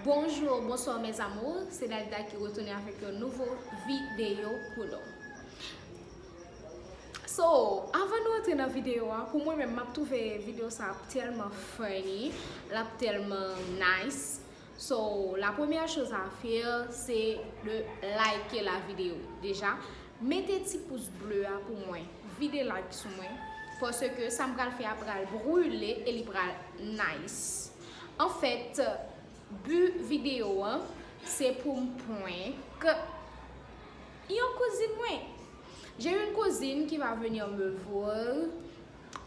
Bonjour bonsoir mes amours se Dalida ki retounen avèk yon nouvo videyo pou nou So avan nou antre nan videyo a pou mwen menm map twouve videyo sa ap tèlman funny lap tèlman nice So la premyè choz a fè se de like la videyo deja Mete ti pous ble a pou mwen vide like sou mwen paske sam pral fè a pral brule e li pral nice en fait bu video an se poum prank yon kouzin mwen j'ai une cousine qui va venir me voir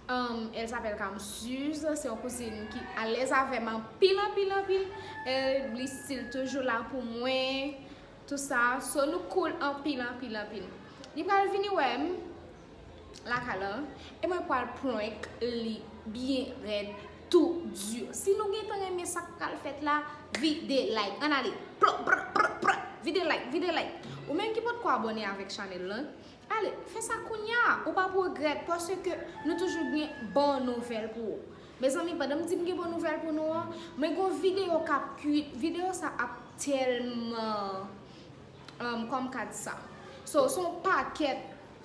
elle s'appelle Kamsuse se yon kouzin ki alèz avèm anpil anpil anpil li stil toujou la pou mwen. Tout sa so nou cool anpil anpil anpil li pral vini wèm lakay lan e mwen pral prank li byen rèd tou di si nou gentan renmen sak pral fèt la vide like ann ale plop prap prap prap vide like vide like ou menm ki potko abòne avèk chanèl lan ale fè sa kounya ou pap regrèt paske nou toujou gen bon nouvèl pou ou Mezanmi pandan m di m gen bon nouvèl pou nou an, mwen gon video kap kuit, video sa ap tèlman kòm ka di sa so son pakèt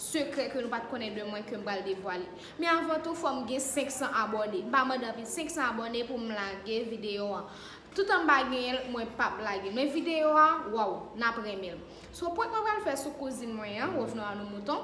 sekrè ke nou pat konnen de mwen kem pral devwale men avan tou fòm gen 500 abòne m pa mande anpil 500 abòne pou m lage video an toutan m pa genyen l mwen pap lage l men video a waw nap renmen l so prank mwen pral fè sou kouzin mwen an revenons à nos moutons.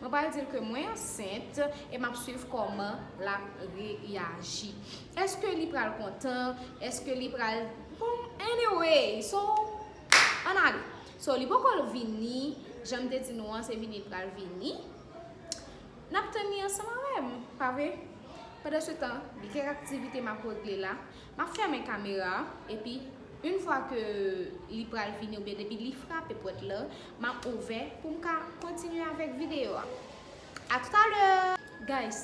Mwen pral dil ke mwen ansent e map swiv kòman lap reyaji. Eske li pral kontan, eske li pral bon anyway so ann ale. So li poko vini janm te di nou an se vini li pral vini. Nap tann li ansanm avèm pa vre? Pandan se tan gen kèk aktivite map regle la. Map fèmen kamera a epi yn fwa ke li pral fini oubyen depi li frape pwèt la map ouvè poum ka kontinye avèk video a a tout a lè guys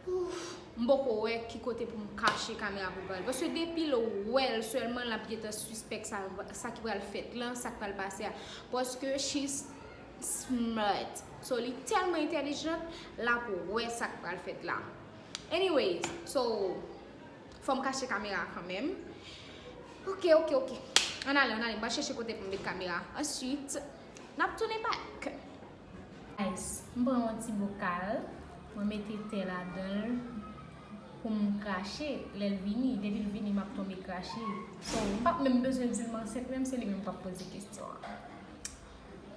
ouff m poko wè ki kote poum kache kamera pou pral paske depil wèl sèlman lap gentan sispèk sa ki pral fèt lan sak pral pase a paske she's smart so li tèlman entèlijant lap wè sak pral fèt la. Anyways so fòm kache kamera a kanmenm ok ok ok ann ale ann ale m pral chèche kote pou m met kamera a answit n ap tounen back. Guys m pran yon ti bokal mwen mete te ladan l pou m krache lè l vini depi l vini m ap tonbe krache so m pap menm bezwen di l m ansent menm se li menm k ap poze kesyon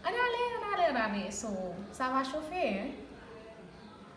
an ann ale ann ale ann ale so sa va chofe hein.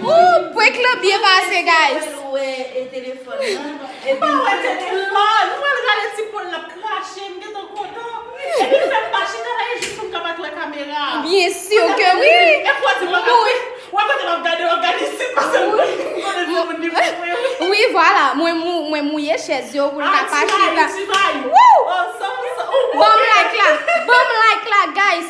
Ooh prank lan byen pase guys. Byen sur ke wi. Wi vwala mwen mwen mouye chèz yo pou l ka pa chita. Wouh. Banm like la, banm like la guys.